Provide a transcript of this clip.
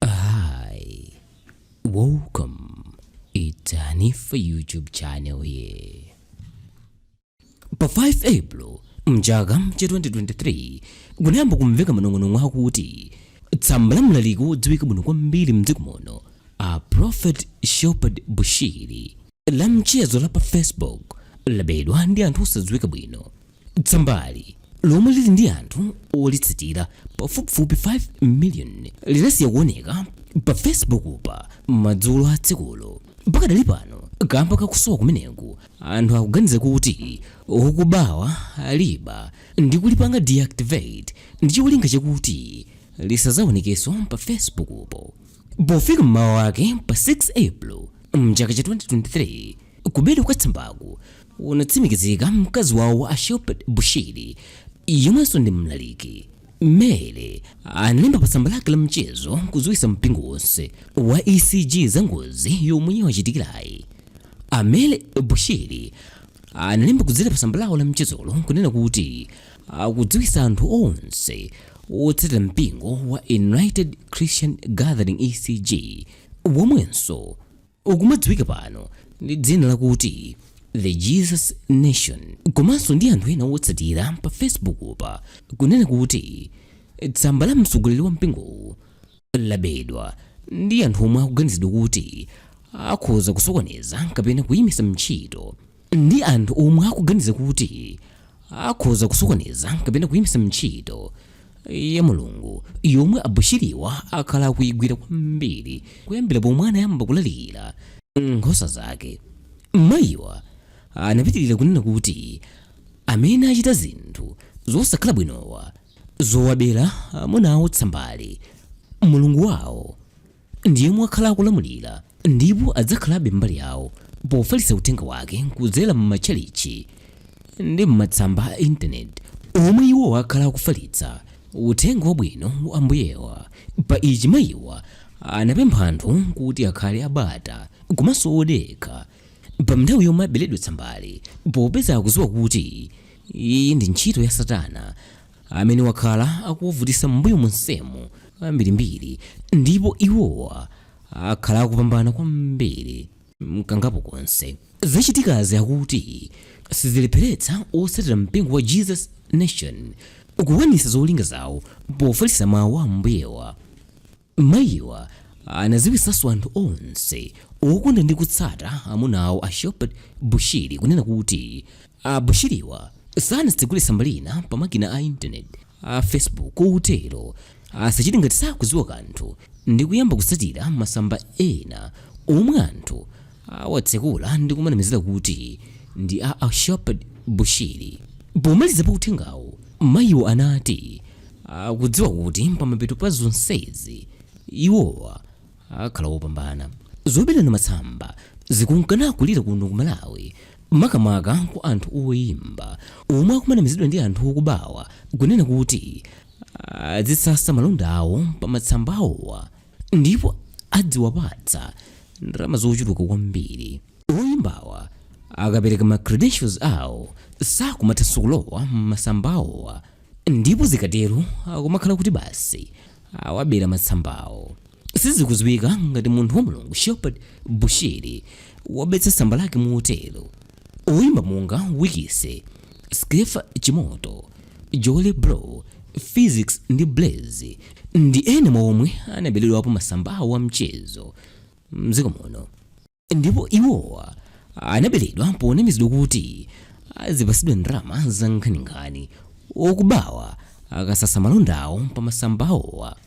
Hi, welcome. It's Hanifa YouTube channel here. Pa 5 April mchaka cha 2023 kunayamba kumveka manong'onong'o akuti tsamba la mlaliki wodziwika bwino kwambiri mdziko muno a Prophet Shepherd Bushiri la mchezo la pa Facebook labedwa ndi anthu osadziwika bwino Tsambali lomwe lili ndi anthu olitsatira pafupifupi 5 miliyoni linasiya kuoneka pa Facebook pa madzulo a tsikulo. Pakadali pano kamba kakusowa kumeneku anthu akuganiza kuti okubawa aliba ndi kulipanga deactivate ndi cholinga chakuti lisazaonekenso pa Facebook po. Pofika m'mawa wake pa 6 April mchaka cha 2023 Kubedwa kwa tsambaku kunatsimikizika mkazi wawo a Shepherd Bushiri yemwenso ndi mlaliki. Mary analemba pa tsamba lake la mchezo kudziwitsa mpingo wonse wa ECG za ngozi yomwe yawachitikirayi. A Mary Bushiri analemba kudzera pa tsamba lawo la mchezolo nkunena kuti akudziwitsa anthu onse otsatira mpingo wa United Christian Gathering ECG womwenso ukumadziwika pano ndi dzina lakuti The Jesus Nation komanso ndi anthu ena otsatira pa Facebook'pa kunena kuti tsamba la mtsogoleri wa mpingowu labedwa ndi anthu omwe akuganizidwa kuti akhoza kusokoneza kapena kuyimitsa ntchito ndi anthu omwe akuganiza kuti akhoza kusokoneza kapena kuyimitsa ntchito ya Mulungu yomwe a Bushiriwa akhala akuyigwira kwambiri kuyambira pomwe anayamba kulalikira nkhosa zake. Mayiwa anapitirira kunena kuti amene achita zinthu zosakhala bwinowa zowabera amuna awo tsambali, Mulungu wawo ndi yemwe wakhala akulamulira ndipo adzakhalabe mbali yawo pofalitsa uthenga wake kudzera m'matchalitchi ndi m'matsamba a intaneti omwe iwowa akhala akufalitsa uthenga wabwino wa Ambuyewa. Pa ichi mayiwa anapempha anthu kuti akhale abata komanso odekha pa nthawi yomwe aberedwa tsambali popeza akudziwa kuti iyi ndi ntchito ya Satana amene wakhala akuwavutisa m'mbuyo monsemu kambirimbiri ndipo iwowa akhala akupambana kwambiri mkangapo konse zachitikazi akuti sizilepheretsa otsatira mpingo wa Jesus Nation kukwanitsa zolinga zawo pofalitsa mawu a Ambuyewa Mayiwa anaziwisaso anthu onse okonda ndi kutsata amuna awo a Shepherd Bushiri kunena kuti a Bushiriwa sanatsegule tsamba lina pa makina a internet a Facebook kotero asachite ngati sakuziwa kanthu ndi kuyamba kutsatira masamba ena omwe anthu awatsekula ndi kumanamizira kuti ndi a a Shepherd Bushiri. Pomaliza pa uthengawo, mayiwo anati akudziwa kuti pamapeto pa zonsezi, iwowa akhala opambana. Zoberana matsamba zikunka nakulira kuno ku Malawi makamaka kwa anthu oimba omwe akumanamizidwa ndi anthu okubawa kunena kuti adzitsatsa malonda awo pa matsamba awowa. ndipo adziwapatsa ndalama zochuluka kwambiri oyimbawa akapereka ma credentials awo sakumathanso kulowa m'masamba awowa ndipo zikatero akumakhala kuti basi awabera matsambawo sizikuziwika ngati munthu wa mulungu shepherd bushiri wabetsa tsamba lake motero Oyimba monga Wikise, Skeffa Chimoto, Jolly Bro, Phyzix ndi Blaze ndi ena mwa omwe anabeledwapo masamba awo a mchezo mdziko muno ndipo iwowa anabeledwa ponamizidwa kuti azipasidwa ndalama za nkhaninkhani okubawa akasatsa malonda awo pa masamba awowa.